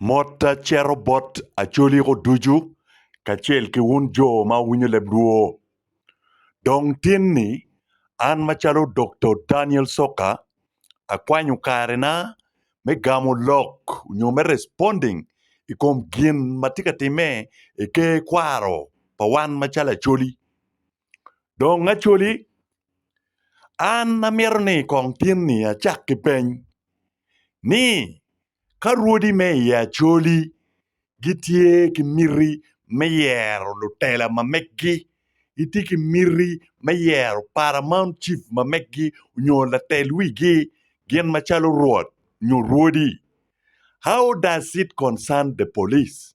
Motta cito bot acoliko ducu kacel ki wun jo ma wuwinyo leb lwo. Dong tinni, an macalo Doktor Daniel Soka, akwanyo karena me gamo lok nyo me responding i kom gin ma tye ka timme i ker kwaro pa wan macalo acoli. Dong Acholi, an amito ni kong tinni acak ki peny ni ka rwodi me i Acholi gitye ki miti me yero lutela ma megi, gitye ki miti me yero Paramount Chief ma megi nyo latel wigi gin macalo Rwot nyo Rwodi, how does it concern the police?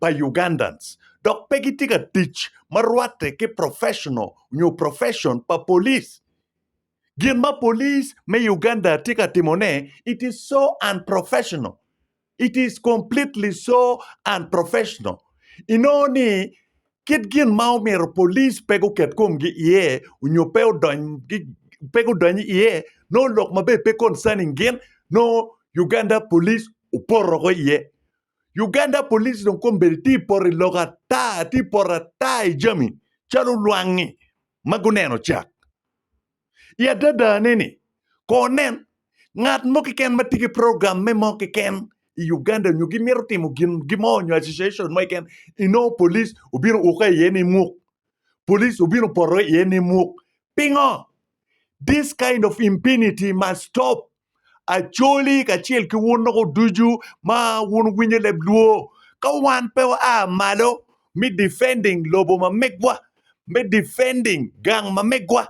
pa Ugandans dok pe gitye ka tic ma rwatte ki professional nyo profession pa police. Gin ma police me Uganda tye ka timone it is so unprofessional, it is completely so unprofessional. Inongo ni kit gin ma omyero police pe guket komgi iye nyo pe odony gi pe gudony iye nongo lok maber pe concerning gin nongo Uganda police opoto woko iye. Uganda police dong kombeddi tye poto i lok ata, tye poto ata i jami calo lwangi ma guneno cak. I adadane ni, kor nen ngat mo keken ma tye ki program me mo keken i Uganda nyo gimito timo gin gimo nyo association mo keken inongo police obino uke iye ni muk. Police obino poto iye ni muk. Pingo? This kind of impunity must stop. Acoli kacel ki wun loko ducu ma wun winyo leb luo, ka wan pe wa a malo me defending lobo ma megwa, me defending gang ma megwa,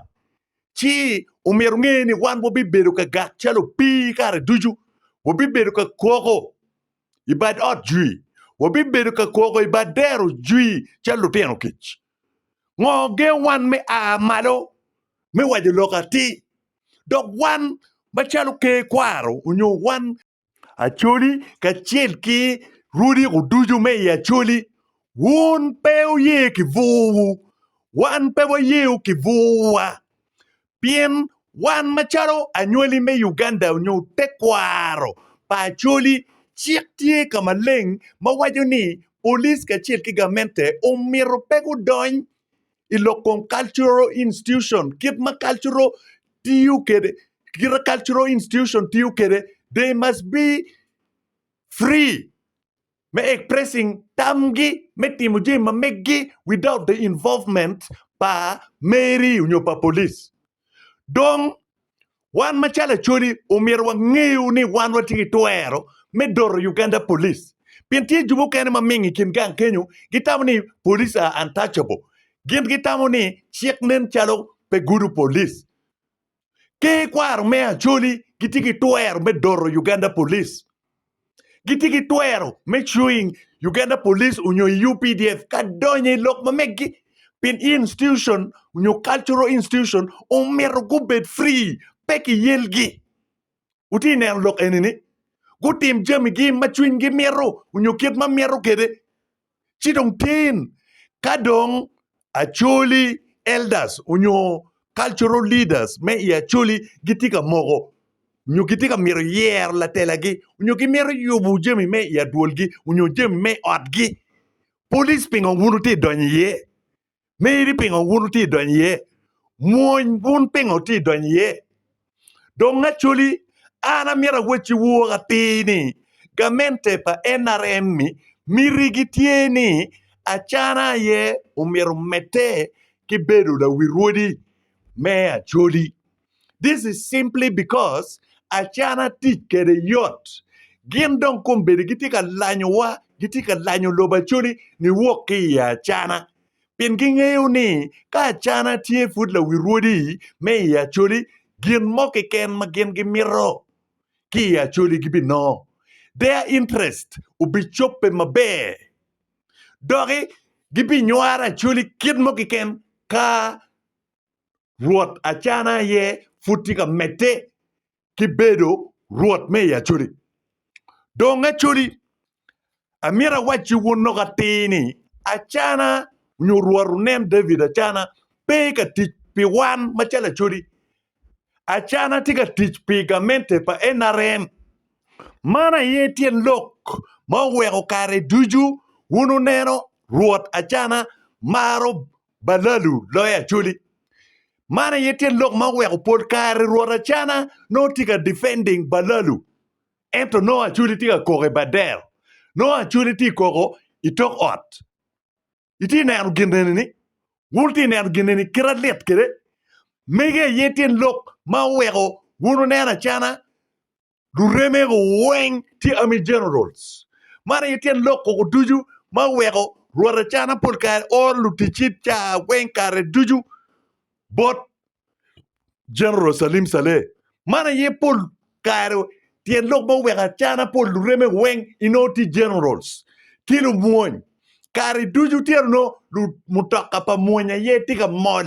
ci omyero wunge ni wan wabibedo ka gak calo opii kare ducu, wabibedo ka koko i bad ot jwi, wabibedo ka koko i bad dero jwi calo lutino kic. Ngo gengo wan me a malo me waco lok atir? Dok wan macalo ker kwaro onyo wan Acholi kacel ki rwodiko ducu me i Acholi, wun pe wuye ki bwurwu, wan pe wayewu ki bwurwa. Pien wan macalo anywali me Uganda nyo tekwaro pa Acholi, cik tye ka maleng ma waco ni Police kacel ki gamente omito pe gudony i lok kong Cultural Institution kit ma Cultural tiyo kwede, kite Cultural Institution tiyo kwede, they must be free. me expressing tamgi me timo jami ma meggi without the involvement pa Mary nyo pa police. Dong wan macalo Acholi omyero wangeyo ni wan watye ki twero me doro Uganda police pien tye jo mukene ma mingo i kin gang kenyo gitamo ni police are untouchable. Gin gitamo ni cik nen calo pe gudo police. ki kwaro me Acholi gitye ki twero me doro Uganda Police. Gitye ki twero me chewing Uganda Police onyo i UPDF ka donyo i lok ma meggi. Pien institution onyo cultural institution omito gubed free, pe ki yelgi. Wutye neno lok eni ni? Gutim jamigi ma cwinygi mito onyo kit ma mito kede. ci dong tin ka dong Acholi elders onyo cultural leaders me i Acholi gitye ka moko onyo gitye ka myero yero latelagi onyo gimito yubo jami me i adwolgi onyo jami me otgi, police pingo wun wutye ka donyo iye? meno ni pingo wun wutye ka donyo iye? Mwony wun pingo wutye ka donyo iye? Dong actually an amyero awacci wor atir ni gamente pa NRM ni miti gi tye ni Acana aye omyero omedde ki bedo lawirwodi me Acholi. This is simply because acana tic kede yot. Gin dong kombedi gitye ka lanyowa, gitye ka lanyo lobo acoli niwok ki i acana. Pien gingeyo ni ka acana tye pud lawi rwodi me i acoli, gin mo keken ma gin gimito ki i acoli gibinongo. Their interest obicobbe maber. Doki gibinywaro acoli kit mo keken ka Rwot Acana aye pud tye ka medde ki bedo Rwot me i Acoli. Dong Acoli, amito awacci wun lok atir ni Acana nyo Rwot onen David Acana pe ka tic pi wan macalo Acoli. Acana tye ka tic pi gamente pa NRM. Man aye tyen lok ma oweko kare ducu wun wuneno Rwot Acana maro Balalu loyo Acholi. Man aye tyen lok ma oweko pol kare Rwot Acana nongo tye ka defending Balalu, ento nongo Acholi tye ka koko i Badel. Nongo Acholi tye koko i tok ot. Itye neno gin eni ni? Wun tye neno gin eni kite lit kede? Mege aye tyen lok ma oweko wun wuneno Acana Luremego weng tye Army Generals. Man aye tyen lok koko ducu ma oweko rwot Acana pol kare oro luticci caa weng kare ducu bot General Salim Saleh. Man aye pol kare tyen lok ma oweko Acana pol luremego weng inongo tye Generals ki lumwony. Kare ducu tyen onongo mutoka pa mwony aye tye ka mol.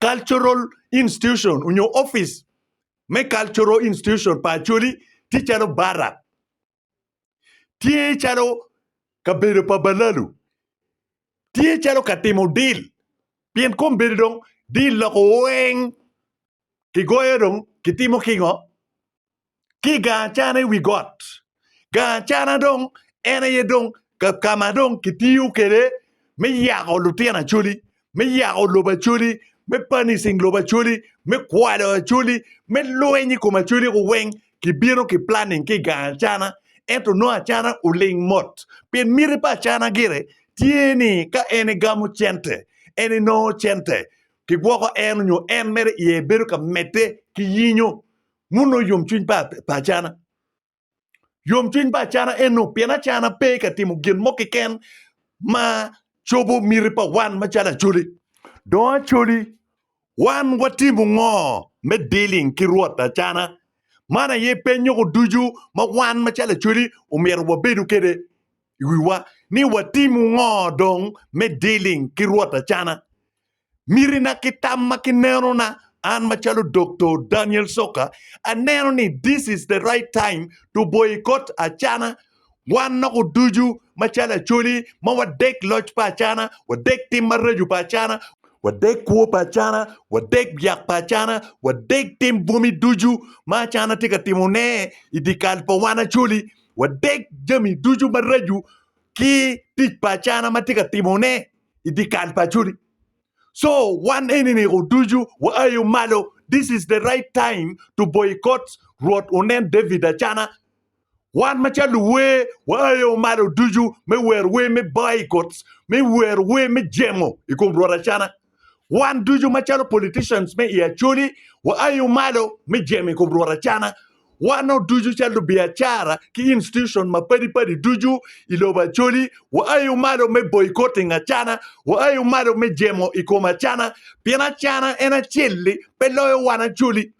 Cultural Institution onyo opic me Cultural Institution pa Acholi tye calo Barak, tye calo kabedo pa Balalu, tye calo katimo deal pien kombedo dong deal loko weng. kigoyo dong kitimo kingo? Ki i gang acana i wi got. Gang acana dong en aye dong ka ma dong kitiyo kwede me yako lutino Acholi, me yako lobo Acholi, me punishing lobo Acholi, me kwalo Acholi, me lweny i kom Acholi kong weng kibino ki planning ki i gang acana. Ento nongo acana oling mot pien miti pa acana gire tye ni ka en egamo cente en enongo cente. kigwoko en onyo en mere iye bedo ka medde ki yinyo muno yomcwiny pa acana. Yomcwiny pa acana eno pien acana pe ka timo gin mo keken ma cobo miti pa wan macalo Acholi. Dong Acholi, wan watimo ngo me dealing ki Rwot acana? Man aye penyo ko ducu ma wan macalo Acholi omyero wabedo kede iwiwa ni watimo ngo dong me dealing ki Rwot acana? mitina ki tam ma ki nenona an macalo Doktor Daniel Soka aneno ni this is the right time to boycott Acana wan noko ducu macalo Acholi ma wadek loc pa Acana, wadek tim maraco pa Acana, wadek kwo pa Acana, wadek byak pa Acana, wadek tim bwomi ducu ma Acana tye ka timo ne i di kal pa wan Acholi, wadek jami ducu maraco ki tic pa Acana ma tye ka timo ne. i dye kal paconi. So wan enini oducu waayo malo, this is the right time to boycott Rwot onen David Acana. Wan macalo luwer waayo malo ducu me wero wer me boycott, me wero wer me jemo i kom Rwot Acana. Wan ducu macalo politicians me i Acholi waayo malo me jemo i kom Rwot Acana. Wano ducu calo lubiacara ki institution mapadi padi ducu i lobo Acholi, waayo malo me boycotting acana, waayo malo me jemo i kom acana, pien acana en acel-li pe loyo wan Acholi.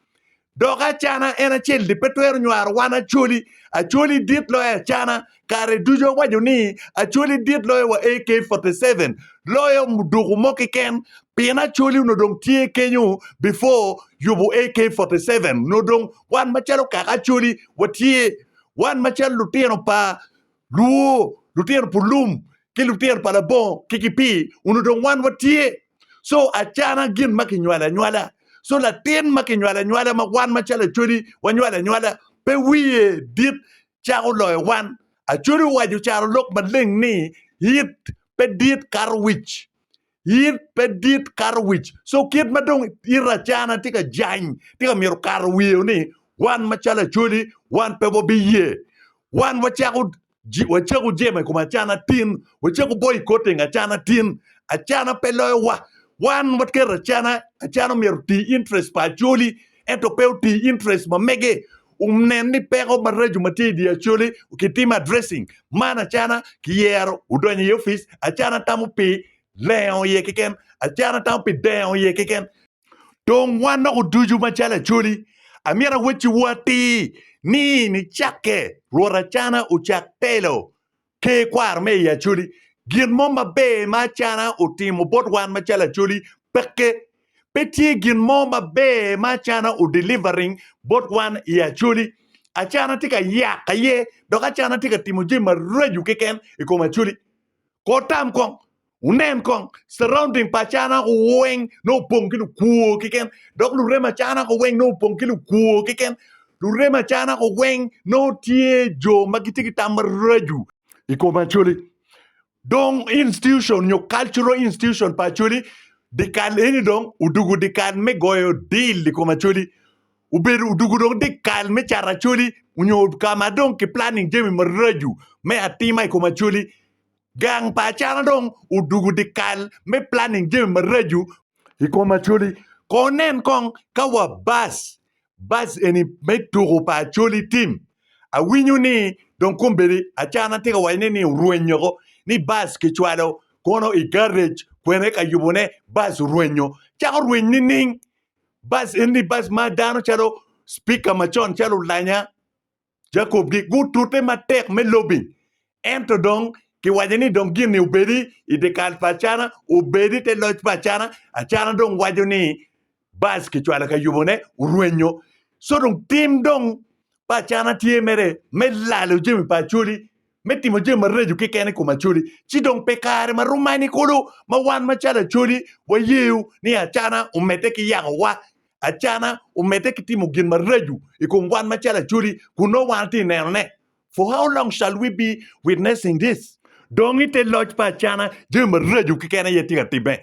Dok acana en acel-li pe twero nywaro wan Acholi. Acholi dit loyo acana, kare ducu awaco ni Acholi dit loyo wa AK47 loyo muduku mo kiken pien Acholi onongo dong tye kenyo before yubu AK47 onongo dong wan macalo kaka Acholi watye wan macalo lutino pa luo lutino pu lum ki lutino pa labongo ki kipii onongo dong wan watye so acana gin ma kinywalo anywala so latin ma kinywalo anywala ma wan macalo Acholi wanywalo anywala pe wiye dit cako loyo wan. Acodi owaco caro lok maleng ni, It pe dit kato wic. It pe dit kato wic. So kit ma dong it acana tye ka jany, tye ka myero kato wiyo ni wan macalo Acodi, wan pe wabiye. Wan wacako ji- wacako jemo i kom acana tin, wacako boyo i kor teng acana tin. Acana pe loyowa. Wan waketo acana, acana omyero oti interest pa Acoli, ento pe oti interest ma mege. onen ni peko maraco ma tye i dye Acholi kitimo addressing man acana kiyero odonyo i opic acana tamo pi lengo iye keken acana tamo pi dengo iye keken. Dong wan dok oducu macalo Acholi amyero awecciwu atir ni nicakke Rwot acana ocak telo Ker kwaro me i Acholi, Gin mo maber ma Acana otimo bot wan macalo Acholi peke. Pe tye gin mo maber ma Acana o delivering bot wan i Acholi. Acana tye ka yak aye dok Acana tye ka timo jami maraco keken i kom Acholi. Kor tam kong, Wunen kong, surrounding pa Acaranako weng nongo opong ki lukwor keken, dok lurem Acaranako weng nongo opong ki lukwor keken. Lurem Acaranako weng nongo tye jo ma gitye ki tam maraco i kom Acholi. Dong institution nyo cultural institution pa Acholi dyekal eni dong odwogo dyekal me goyo deal i kom Acholi. Obedo odwogo dong dyekal me cato Acholi nyo ka ma dong ki planning jami maraco me atima i kom Acholi. Gang pa acana dong odugo dyekal me planning jami maraco. I kom Acholi, kong nen kong ka wa bus bus eni me tuko pa Acholi tim. Awinyo ni dong kombeddi acana tye ka waco ni ni orwenyo ko ni bus kicwalo kono i garage kwene ka yubo ne bus orwenyo. Cako rweny nining? Bus eni bus ma dano calo speaker macon calo olanya Jacob gutute matek me lobing, ento dong kiwaco ni dong gin-ni obedi i dyekal pa Acana, obedi i te loc pa Acana. Acana dong waco ni Bac kicwalo ka yubone, orwenyo. Co dong tim dong pa Acana tye mere me lalo jami pa Acholi. me timo jami maraco keken i kom Acholi, ci dong pe kare ma rom mani kulu ma wan macalo Acholi wayeyo ni Acana omedde ki yakowa, Acana omedde ki timo gin maraco i kom wan macalo Acholi kun nongo wan watye ka nenone. For how long shall we be witnessing this? Dong i te loc pa Acana, jami maraco keken aye tye ka timme.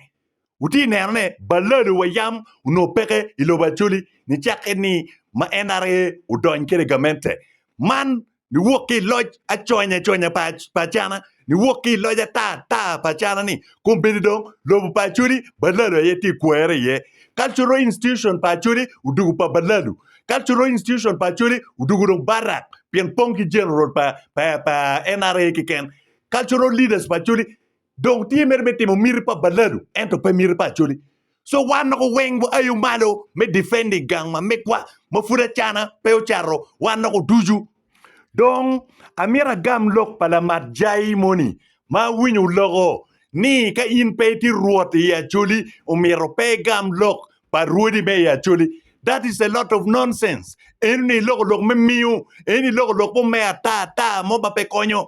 Wutye neno ne balado wa yam onongo peke i lobo Acholi nicakke ni ma NRA odony kede gamente man niwok ki i loc aconya aconya pa Acana niwok ki i loc ata ata pa Acana ni kombeddi dong lobo pa Acholi balado aye tye kwere iye. Cultural institution pa Acholi odugu pa balado. Cultural institution pa Acholi odugu dong barak pien pong ki general pa NRA keken. Cultural leaders pa Acholi Dong tye mere me timo miti pa balalu ento pe miti pa Acholi. So wan noko weng wa ayo malo me defending gang ma megwa ma pud acana pe ocato wan noko ducu. Dong amito agam lok pa lamat Jai moni ma awinyo loko ni ka in pe itye rwot i Acholi omito pe igam lok pa rwodi me i Acholi. That is a lot of nonsense. Eno ni iloko lok me miyo, eno ni iloko lok mo me ata ata mo ma pe konyo.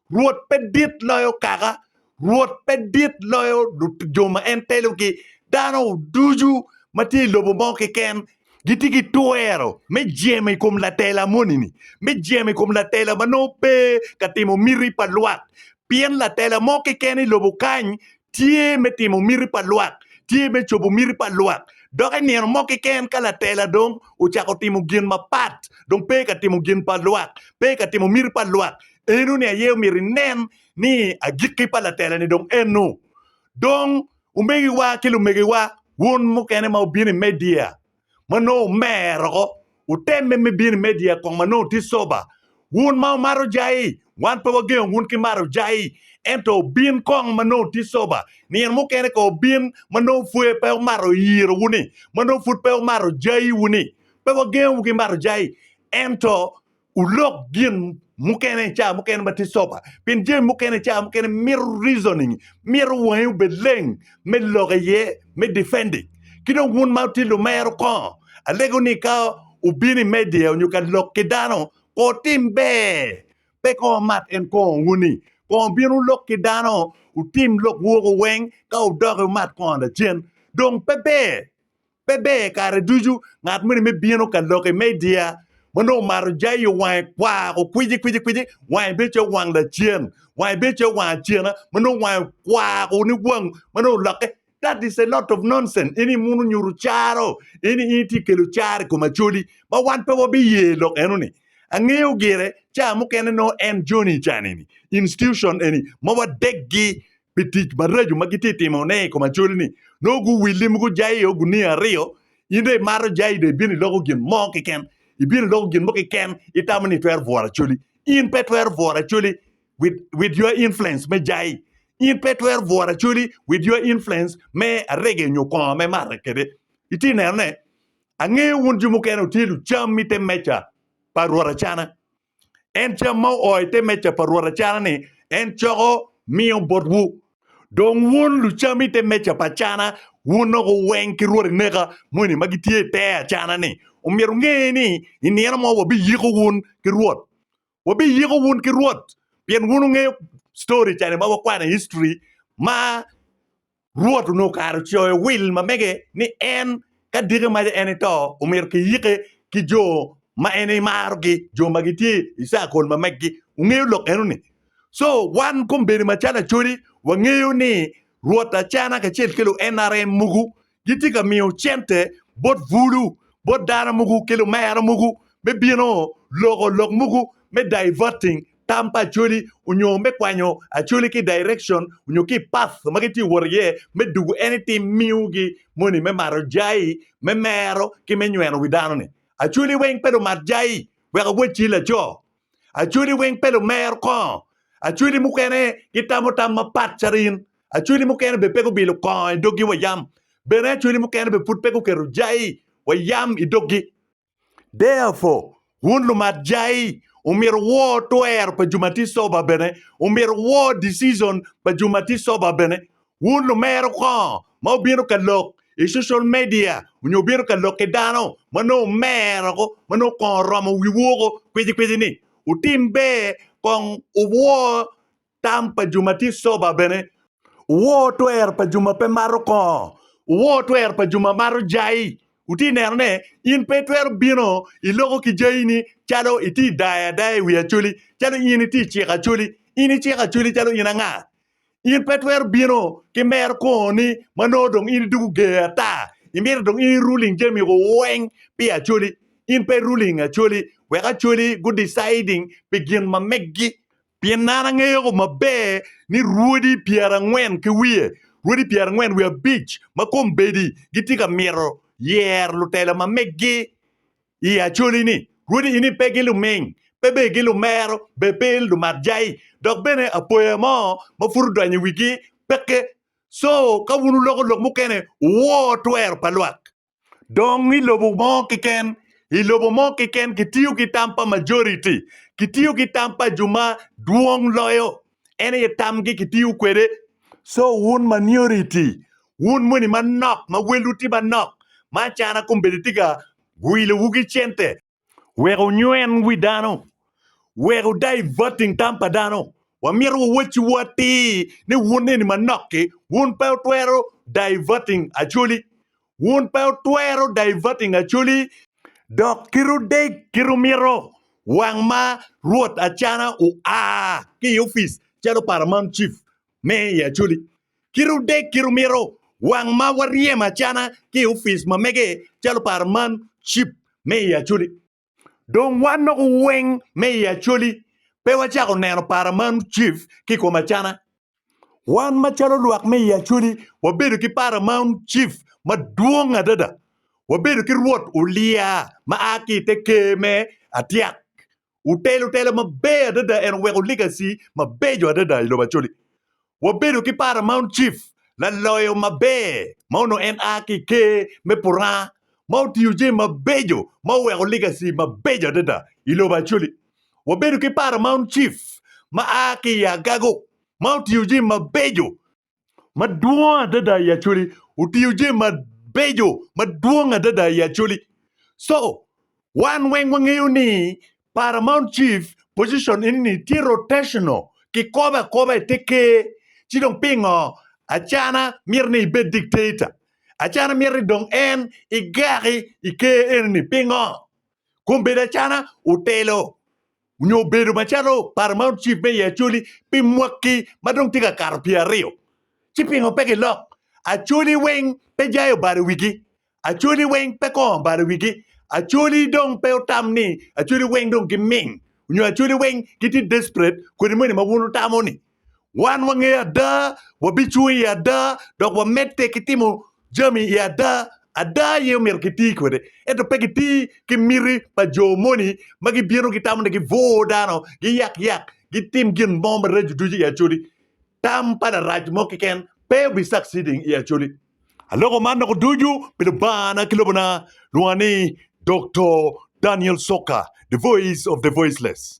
Rwot pe dit loyo kaka, Rwot pe dit loyo jo ma en telogi. Dano ducu ma tye i lobo mo keken gitye ki twero me jemo i kom latela moni-ni, me jemo i kom latela ma nongo pe ka timo miti pa lwak. Pien latela mo keken i lobo kany tye me timo miti pa lwak, tye me cobo miti pa lwak. Dok i nino mo keken ka latela dong ocako timo gin mapat, dong pe ka timo gin pa lwak, pe ka timo miti pa lwak, eno-ni aye omyero inen ni agikki pa latela-ni dong eno. Dong, omegiwa ki lumegiwa, wun mukene ma wubino i media, ma nongo omer oko, wutemme me bino i media kong ma nongo tye coba. Wun ma wumato jai, wan pe wagengo wun ki mato jai, ento wubin kong ma nongo tye coba. Nino mukene kong wubin ma nongo pwod pe wumato yirowu-ni, ma nongo pud pe wumato jaiwu-ni. Pe wagengowu ki mato jai, ento Wulok gin mukene ca mukene ma tye sober, pien jami mukene ca mukene mito reasoning, mito wangi obed leng me lok iye, me defending. Ki dong wun ma wutye lumero kongo, alego ni ka wubino i media nyo ka lok ki dano, kongo wutim ber, pe kongo wumat en kongo wuni. Kongo wubin wulok ki dano, wutim lok woko weng, ka wudoki wumat kongo lacen. Dong pe ber Pe ber kare ducu ngat moni me bino ka lok i media ma nongo omato jayo wange kwar ko kwici kwici kwici wange bedo calo wang lacen wange bedo calo wang acena ma nongo wange kwar ko ni wang ma nongo olokke that is a lot of nonsense in imuno nyuto caro in in itye ka kelo caro i kom Acholi ma wan pe wabiye lok enoni angeyo gire ca mukene nongo en Johnny cani-ni institution eni ma wadeggi pi tic maraco ma gitye ka timone i kom acoli-ni, nongo guwilli ma gujayo gunia aryo. In dong imato jai dong ibino iloko gin mo keken, ibino iloko gin mo keken, itamo ni itwero bworo acoli. In pe itwero bworo acoli with, with your influence me jai. In pe itwero bworo acoli with your influence me arege nyo kongo me marre kwede. Itye ka nenone? Angeyo wun jo mukene wutye lucam i te meja pa Rwot Acana. En cam ma oo i te meja pa Rwot acana-ni, en coko miyo botwu. Dong wun lucam i te meja pa acana, wun noko weng ki rwodi neka moni ma gitye i te acana-ni. Omyero wunge ni i nino mo wabiyiko wun ki Rwot. Wabiyiko wun ki Rwot pien wun wungeyo story ca-ni ma wakwano i history ma Rwot onongo kare ocoyo wil ma mege ni en ka diki maca en ito, omyero kiyike ki jo ma en emarogi, jo ma gitye i circle ma megi. Wungeyo lok eno-ni? Co, wan kombeddi macalo acodi, wangeyo ni Rwot Acana kacel ki lu NRM mogo gitye ka miyo cente bot bulu, bot dano mogo ki lumera mogo me bino loko lok mogo me diverting tam pa Acholi onyo me kwanyo Acholi ki direction onyo ki path ma gitye wot iye me dugu anything miyo gi moni me maro jai, me mero ki me nyweno wi dano ni. Acholi weng pe lumat jai wek awoc ci laco. Acholi weng pe lumero kongo. Acholi mukene gitamo tam mapat calo in. Acholi mukene bene pe gubilo kongo i dog gi wa yam. Bene Acholi mukene bene pud pe guketo jai wa yam i dog gi. Therefore, wun lumat jai, omyero wuwor twero pa jo ma tye coba bene, omyero wuwor decision pa jo ma tye coba bene. Wun lumero kongo ma wubino ka lok i social media onyo wubino ka lok ki dano ma nongo omero woko, ma nongo kongo oromo wiwu woko kwicikwici-ni? Wutim ber kong wuwor Tam pa jo ma tye coba bene. Wor twer pa jo ma pe mato kongo. Wuwor twer pa jo ma mato jai. Wutye ka neno ne, in pe itwero bino iloko ki jaini calo itye ka dayo adaya i wi acholi, calo in itye ka ciko acholi. In iciko acholi calo in anga? In pe itwero bino ki mero kongoni ma nongo dong in idoko ger ata. Imito dong in iruling jami weng pi acholi. In pe iruling acholi wek acholi gu deciding pi gin ma meggi. Pien an angeyo maber ni rwodi pyerangwen ki wiye, rwodi pyerangwen wiye abic ma kombeddi gitye ka mito yero lutela ma meggi i acoli-ni, rwodi eni pe gi luming, pe bene gi lumero, bene pe lumat jai, dok bene apoya mo ma pud odonyo i wigi peke. Co ka wun wuloko lok mukene, wuwor twero pa lwak. Dong i lobo mo keken, i lobo mo keken kitiyo ki tam pa majority, kitiyo ki tam pa jo ma dwong loyo. En aye tamgi kitiyo kwede. So wun maniority, wun moni manok ma welwu tye manok, ma acana kombeddi tye ka wilowu ki cente, wek onywen wi dano, wek odaivating tam pa dano. Wamito wawacciwu atir ni wun eni manok-ki, wun pe wutwero daivating Acholi. Wun pe wutwero daivating Acholi, dok kit odeg kit wumito wang ma Rwot Acana oa ki i opic calo Paramount Chief me i Acholi. Kite odek kite omito wang ma waryem acana ki i ofice ma mege calo paro man cip me i Acholi. Dong wan noko weng me i Acholi pe wacako neno paro man cip ki kom acana. Wan ma calo lwak me i Acholi wabedo ki paro man cip madwong adada. Wabedo ki rwot Ulia ma a ki i te ker me Atyak Otelo telo maber adada en oweko legacy mabeco adada i lobo Acholi. Wabedo ki Paramount Chief laloyo maber ma onongo en a ki i Ker me Puranga ma otiyo jami mabeco ma oweko legacy mabeco adada i lobo Acholi. Wabedo ki Paramount Chief ma a ki i Agago ma otiyo jami mabeco madwong adada i Acholi, otiyo jami mabeco madwong adada i Acholi. So, wan weng wangeyo ni Paramount Chief position eni tye rotational, kikobo akoba i te ker. Ci dong pingo Acana myero ni ibed dictator? Acana myero ni dong en igaki i ker eni-ni, pingo? Kombeddi Acana otelo onyo obedo macalo paro ma ocif me i Acholi pi mwaki ma dong tye ka kato pye aryo, ci pingo pe gilok? Acholi weng pe jai obalo wigi? Acholi weng pe kongo obalo wigi? Acholi dong pe otam ni Acholi weng dong giming? Onyo Acholi weng gitye desperate kodi moni ma wun wutamo ni? Wan wangeyo ada, wabicung i ada, dok wamedde ki timo jami i ada. Ada aye omyero kiti kwede, ento pe kiti ki miti pa jo moni ma gibino gitamo ni gibwor dano, giyak yak, gitim gin mo maraco ducu i Acholi. Tam pa Larac mo keken pe obi succeeding i Acholi. Aloko man doko ducu pi Lubangana ki lobona, lwonga ni Doktor Daniel Soka, The Voice of the Voiceless.